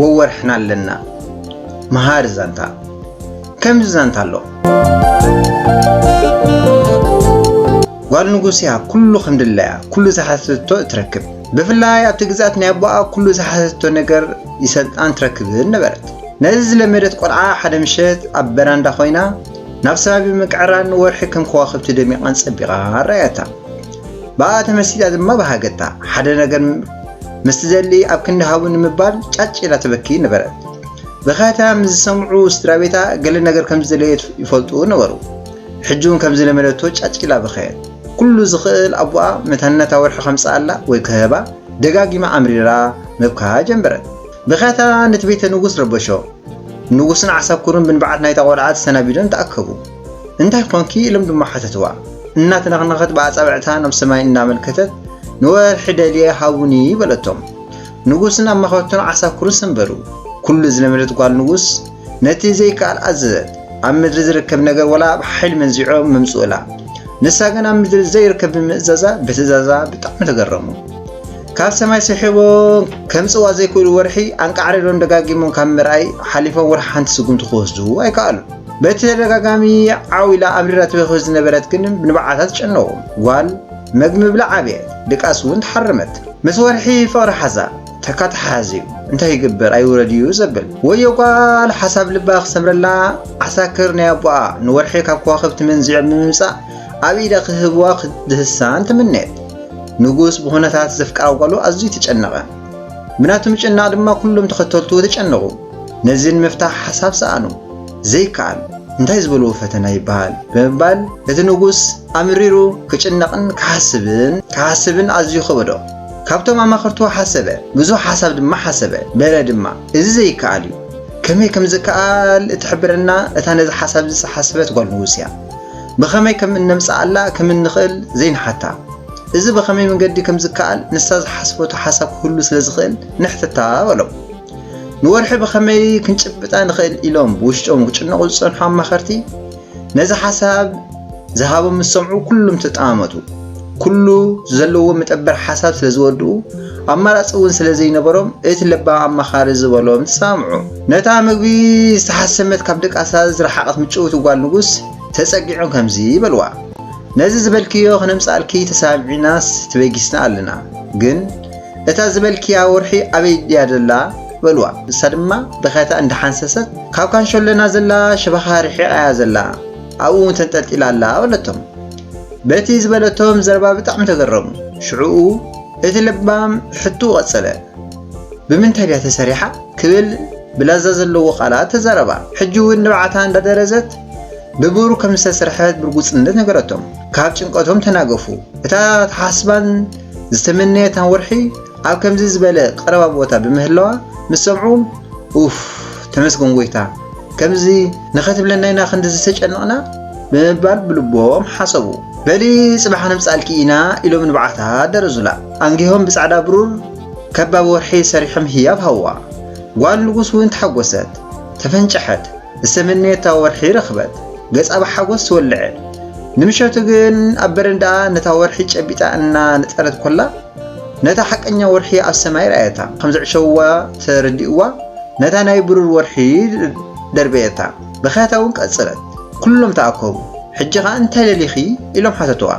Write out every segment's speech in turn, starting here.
ወወርሕና ኣለና መሃሪ ዛንታ ከምዚ ዛንታ ኣሎ ጓል ንጉስ እያ ኩሉ ክንድላያ ኩሉ ዝሓተቶ እትረክብ ብፍላይ ኣብቲ ግዝኣት ናይ ኣቦኣ ኩሉ ዝሓተቶ ነገር ይሰልጣን ትረክብን ነበረት ነዚ ዝለመደት ቆልዓ ሓደ ምሸት ኣብ በራንዳ ኮይና ናብ ሰማይ ብምቅዕራር ንወርሒ ከም ከዋኽብቲ ደሚቓን ጸቢቓን ኣረኣያታ። ብኣኣ ተመሲጣ ድማ በሃገታ። ሓደ ነገር ምስ ትደሊ ኣብ ክንዲ ሃቡ ንምባል ጫጭ ኢላ ተበኪ ነበረት። ብኸታ ምስ ዝሰምዑ ስድራቤታ ገለ ነገር ከም ዝደለየት ይፈልጡ ነበሩ። ሕጂ እውን ከም ዝለመደቶ ጫጭ ኢላ በኸየት። ኩሉ ዝኽእል ኣቦኣ መታን ነታ ወርሒ ከምጽኣላ ወይ ክህባ ደጋጊማ ኣምሪራ ምብካ ጀመረት። ብኸታ ነቲ ቤተ ንጉስ ረበሾ። ንጉስን ዓሳኩሩን ብንብዓት ናይታ ቆልዓ ተሰናቢዶም ተኣከቡ። እንታይ ኾንኪ? ኢሎም ድማ ሓተትዋ። እናተነኽነኸት ብኣጻብዕታ ናብ ሰማይ እናመልከተት ንወርሒ ደልየ ሃቡኒ በለቶም። ንጉስን ኣማኸርቱን ዓሳኩሩን ሰንበዱ። ኩሉ ዝለመደት ጓል ንጉስ ነቲ ዘይከኣል ኣዘዘት። ኣብ ምድሪ ዝርከብ ነገር ወላ ኣብ ሓይሊ መንዚዖ ምምጽኡላ ንሳ ግን ኣብ ምድሪ ዘይርከብ ብምእዛዛ ብትእዛዛ ብጣዕሚ ተገረሙ ካብ ሰማይ ስሒቦ ከምጽዋ ዘይክእሉ ወርሒ ኣንቃዕሪሮም ደጋጊሞም ካብ ምርኣይ ሓሊፎም ወርሒ ሓንቲ ስጉምቲ ክወስዱ ኣይከኣሉ በቲ ተደጋጋሚ ዓው ኢላ ኣብሪራ ትበክብ ዝነበረት ግን ንበዓታት ጨነዎም ጓል መግቢ ብላዕ ኣብየት ድቃስ እውን ተሓረመት ምስ ወርሒ ፍቕሪ ሓዛ ተካ ተሓዚኡ እንታይ ይግበር ኣይውረድ እዩ ዘብል ወዮ ጓል ሓሳብ ልባ ክሰምረላ ዓሳክር ናይ ኣቦኣ ንወርሒ ካብ ከዋኽብቲ መንዚዖም ብምምጻእ ኣብ ኢዳ ክህብዋ ክትድህሳን ተመነየት ንጉስ ብኹነታት ዘፍቀራ ጓሉ ኣዝዩ ተጨነቐ ብናቱ ምጭናቕ ድማ ኩሎም ተኸተልቱ ተጨነቑ ነዚ ንምፍታሕ ሓሳብ ሰኣኑ ዘይከኣል እንታይ ዝበልዎ ፈተና ይበሃል ብምባል እቲ ንጉስ ኣምሪሩ ክጭነቕን ክሓስብን ክሓስብን ኣዝዩ ከበዶ ካብቶም ኣማኸርትዎ ሓሰበ፣ ብዙሕ ሓሳብ ድማ ሓሰበ፣ በለ ድማ፣ እዚ ዘይከኣል እዩ። ከመይ ከም ዝከኣል እትሕብረና እታ ነዚ ሓሳብዚ ዝሓሰበት ጓል ንጉስ እያ። ብኸመይ ከም እነምጽኣላ ከም እንኽእል ዘይንሓታ። እዚ ብኸመይ መንገዲ ከም ዝከኣል ንሳ ዝሓሰበቶ ሓሳብ ክህሉ ስለ ዝኽእል ንሕተታ በሎም። ንወርሒ ብኸመይ ክንጭብጣ ንኽእል ኢሎም ብውሽጦም ክጭነቑ ዝጸንሑ ኣማኸርቲ፣ ነዚ ሓሳብ ዝሃቦም ምስ ሰምዑ ኩሉም ተጠማመቱ። ኩሉ ዘለዎ መጠበር ሓሳብ ስለ ዝወድኡ ኣማራጺ እውን ስለ ዘይነበሮም እቲ ለባም ኣማኻሪ ዝበሎም ተሰማምዑ። ነታ ምግቢ ዝተሓሰመት ካብ ደቃሳ ዝረሓቐት ምጭውቲ ጓል ንጉስ ተጸጊዖም ከምዚ በልዋ፣ ነዚ ዝበልክዮ ክነምጽኣልኪ ተሰማሚዕናስ ተበጊስና ኣለና፣ ግን እታ ዝበልክያ ወርሒ ኣበይ ድያ ዘላ በልዋ ንሳ ድማ ብኸታ እንዳሓንሰሰት ካብ ካንሸሎና ዘላ ሽባኻ ርሒቓ እያ ዘላ ኣብኡ ውን ተንጠልጢላ ኣላ በለቶም በቲ ዝበለቶም ዘረባ ብጣዕሚ ተገረሙ ሽዑኡ እቲ ለባም ሕትኡ ቀጸለ ብምንታይ ድያ ተሰሪሓ ክብል ብላዛ ዘለዎ ቃላት ተዛረባ ሕጂ ውን ንብዓታ እንዳደረዘት ብብሩ ከም ዝተሰርሐት ብርጉጽነት ነገረቶም። ካብ ጭንቀቶም ተናገፉ። እታ ተሓስባን ዝተመነየታን ወርሒ ኣብ ከምዚ ዝበለ ቀረባ ቦታ ብምህላዋ ምስ ሰምዑ ኡፍ ተመስገን ጎይታ ከምዚ ንኸትብለና ኢና ክንዲ ዝተጨነቕና ብምባል ብልቦም ሓሰቡ። በሊ ጽባሕ ክንብጻልኪ ኢና ኢሎም ንብዓታ ደረዙላ። ኣንጊሆም ብጻዕዳ ብሩር ከባ ወርሒ ሰሪሖም ህያብ ሃዋ። ጓል ንጉስ እውን ተሓጎሰት፣ ተፈንጨሐት። ዝተመነየታ ወርሒ ረኽበት። ገጻ ብሓጎስ ተወልዐ። ንምሸቱ ግን ኣብ በረንዳኣ ነታ ወርሒ ጨቢጣ እና ነጠረት ኮላ ነታ ሓቀኛ ወርሒ ኣብ ሰማይ ረኣየታ። ከም ዘዕሸውዋ ተረዲእዋ ነታ ናይ ብሩር ወርሒ ደርበየታ። ብኽያታ እውን ቀጸለት። ኩሎም ተኣከቡ። ሕጂ ከኣ እንታይ ደሊኺ? ኢሎም ሓተትዋ።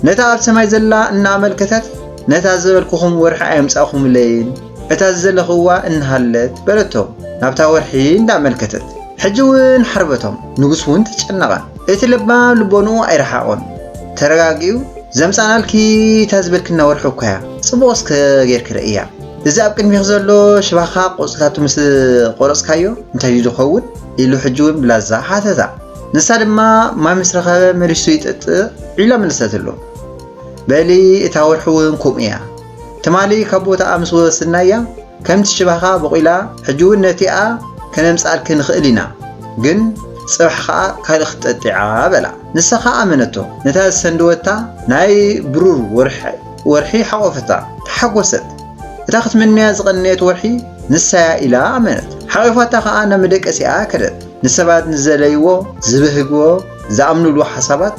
ነታ ኣብ ሰማይ ዘላ እናኣመልከተት ነታ ዝበልኩኹም ወርሒ ኣየምጻእኩምለይን እታ ዝደለኽዋ እንሃለት በለቶ ናብታ ወርሒ እንዳመልከተት ሕጂ እውን ሓርበቶም ንጉስ እውን ተጨነቐ እቲ ለባም ልቦንኡ ኣይረሓቖን ተረጋጊኡ ዘምጻናልኪ እታ ዝበልክና ወርሒ እኮ እያ ጽቡቕ እስከ ጌርኪ ርእያ እዚ ኣብ ቅድሚኺ ዘሎ ሽባኻ ቆጽልታቱ ምስ ቆረጽካዮ እንታይ እዩ ዝኸውን ኢሉ ሕጂ እውን ብላዛ ሓተታ ንሳ ድማ ማይ ምስ ረኸበ መሊሱ ይጠጥእ ዒላ መለሰትሉ በሊ እታ ወርሒ እውን ከምኡ እያ ትማሊ ካብ ቦታኣ ምስ ወስድናያ ከምቲ ሽባኻ ቦቒላ ሕጂ እውን ነቲኣ ከነምጽኣልኪ ንኽእል ኢና ግን ጽባሕ ኸኣ ካልእ ክትጠጥዓ በላ። ንሳ ኸኣ ኣመነቶ ነታ ዝሰንደወታ ናይ ብሩር ወርሒ ሓቖፈታ ተሓጎሰት እታ ክትምነያ ዝቐነየት ወርሒ ንሳያ ኢላ ኣመነት ሓቒፋታ ኸኣ ናብ መደቀሲኣ ከደት ንሰባት ንዝደለይዎ ዝበህግዎ ዝኣምኑሉ ሓሳባት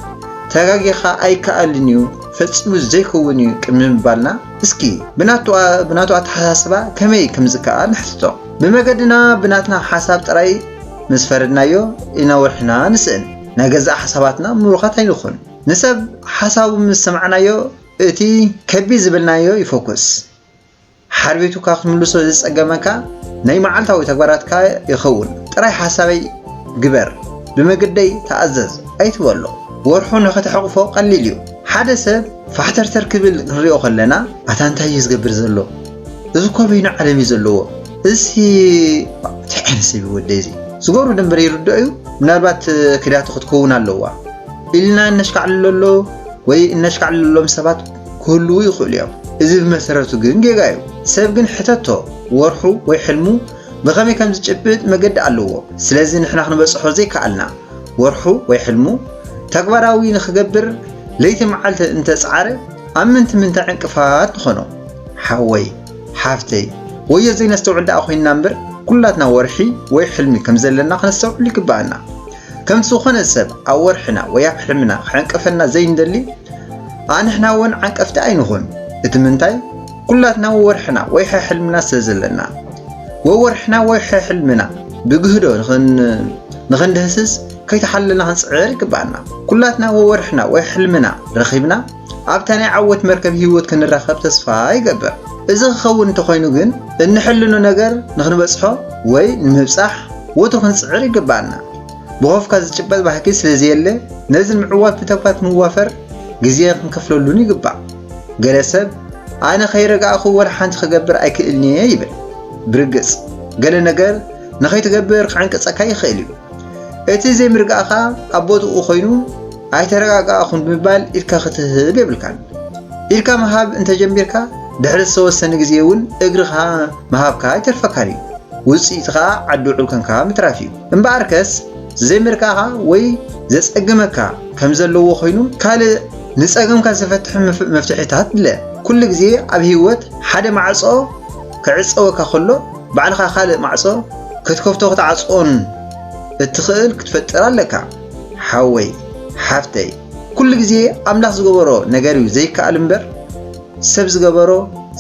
ተጋጊኻ ኣይከኣልን እዩ ፈጺሙ ዘይከውን እዩ ቅድሚ ምባልና እስኪ ብናቱ ኣተሓሳስባ ከመይ ከምዝከኣል ንሕትቶ። ብመገድና ብናትና ሓሳብ ጥራይ ምስ ፈረድናዮ ኢና ወርሕና ንስእን። ናይ ገዛእ ሓሳባትና ምሩኻት ኣይንኹን። ንሰብ ሓሳቡ ምስ ሰማዕናዮ እቲ ከቢድ ዝበልናዮ ይፎኩስ። ሓርቤቱካ ክትምልሶ ዘጸገመካ ናይ መዓልታዊ ተግባራትካ ይኸውን። ጥራይ ሓሳበይ ግበር፣ ብመገደይ ተኣዘዝ ኣይትበሎ። ወርሑ ንኽትሕቕፎ ቀሊል እዩ። ሓደ ሰብ ፋሕተርተር ክብል ክንሪኦ ከለና ኣታ እንታይ እዩ ዝገብር ዘሎ እዚ እኮ በይኑ ዓለም እዩ ዘለዎ እዚ እንታይ ዓይነት ሰብ እዩ ወደይ እዚ ዝገብሩ ደንበር ይርድኦ እዩ ምናልባት ክዳቱ ክትከውን ኣለዋ ኢልና እነሽካዕልለሎ ወይ እነሽካዕልለሎም ሰባት ክህልዉ ይኽእሉ እዮም። እዚ ብመሰረቱ ግን ጌጋ እዩ። ሰብ ግን ሕተቶ ወርሑ ወይ ሕልሙ ብኸመይ ከም ዝጭብጥ መገዲ ኣለዎ። ስለዚ ንሕና ክንበጽሖ ዘይከኣልና ወርሑ ወይ ሕልሙ ተግባራዊ ንኽገብር ለይቲ መዓልቲ እንተጸዓረ ኣብ ምንቲ ምንታይ ዕንቅፋት ንኾኖ። ሓወይ ሓፍተይ ወዮ ዘይነስተውዕል ደኣ ኮይንና እምበር ኩላትና ወርሒ ወይ ሕልሚ ከም ዘለና ከነስተውዕል ይግበኣና። ከምቲ ዝኾነ ሰብ ኣብ ወርሕና ወይ ኣብ ሕልምና ክዕንቀፈና ዘይንደሊ ኣንሕና እውን ዓንቀፍቲ ኣይንኹን። እቲ ምንታይ ኩላትና ወወርሕና ወይ ሕሕልምና ስለ ዘለና። ወወርሕና ወይ ሕሕልምና ብግህዶ ንኽንድህስስ ከይተሓለልና ክንጽዕር ይግብኣና። ኩላትና ወወርሕና ወይ ሕልምና ረኺብና ኣብታ ናይ ዓወት መርከብ ህይወት ክንራኸብ ተስፋ ይገብር። እዚ ክኸውን እንተኾይኑ ግን እንሕልኖ ነገር ንክንበጽሖ ወይ ንምብጻሕ ወትሩ ክንጽዕር ይግብኣና። ብኾፍካ ዝጭበጥ ባህጊ ስለዘየለ ነዚ ንምዕዋት ብተግባር ክንዋፈር ግዜ ክንከፍለሉን ይግባእ። ገለ ሰብ ኣነ ከይረጋእኹ ወላ ሓንቲ ክገብር ኣይክእልን'የ ይብል። ብርግጽ ገለ ነገር ንኸይትገብር ክዕንቅጸካ ይኽእል እዩ። እቲ ዘይምርጋእኻ ኣብ ቦትኡ ኮይኑ ኣይተረጋጋእኹን ብምባል ኢድካ ክትህብ የብልካን። ኢድካ ምሃብ እንተ ጀሚርካ፣ ድሕሪ ዝተወሰነ ግዜ እውን እግርኻ ምሃብካ ኣይተርፈካን እዩ። ውጽኢቱ ከኣ ዓዲ ውዑል ኴንካ ምትራፍ እዩ። እምበኣርከስ ዘይምርካኻ ወይ ዘጸግመካ ከም ዘለዎ ኾይኑ ካልእ ንጸገምካ ዝፈትሕ መፍትሒታት ድለ። ኩሉ ግዜ ኣብ ህይወት ሓደ ማዕጾ ክዕጸወካ ከሎ ባዕልኻ ካልእ ማዕጾ ክትከፍቶን ክትዓጽዎን እትኽእል ክትፈጥር ኣለካ። ሓወይ ሓፍተይ ኩሉ ግዜ ኣምላኽ ዝገበሮ ነገር እዩ ዘይከኣል እምበር ሰብ ዝገበሮ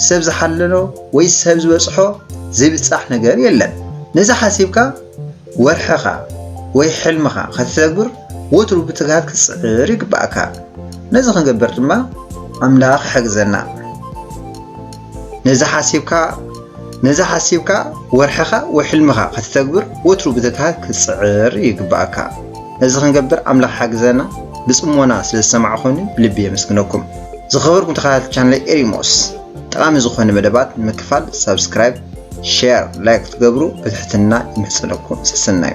ሰብ ዝሓለኖ ወይ ሰብ ዝበፅሖ ዘይብፃሕ ነገር የለን ነዚ ሓሲብካ ወርሕኻ ወይ ሕልምኻ ከተተግብር ወትሩ ብትግሃት ክትፅዕር ይግባእካ ነዚ ክንገብር ድማ ኣምላኽ ይሕግዘና ነዚ ሓሲብካ ነዚ ሓሲብካ ወርሕኻ ወይ ሕልምኻ ከተተግብር ወትሩ ብትግሃት ክትጽዕር ይግብኣካ። ነዚ ክንገብር ኣምላኽ ሓግዘና። ብጽሞና ስለ ዝሰማዕኹኒ ብልቢ የመስግነኩም። ዝኸበርኩም ተኸታተልቲ ቻነለይ ኤሪሞስ ጠቓሚ ዝኾነ መደባት ንምክፋል ሳብስክራይብ፣ ሼር፣ ላይክ ክትገብሩ ብትሕትና ይምሕጸነኩም። ሰሰናዩ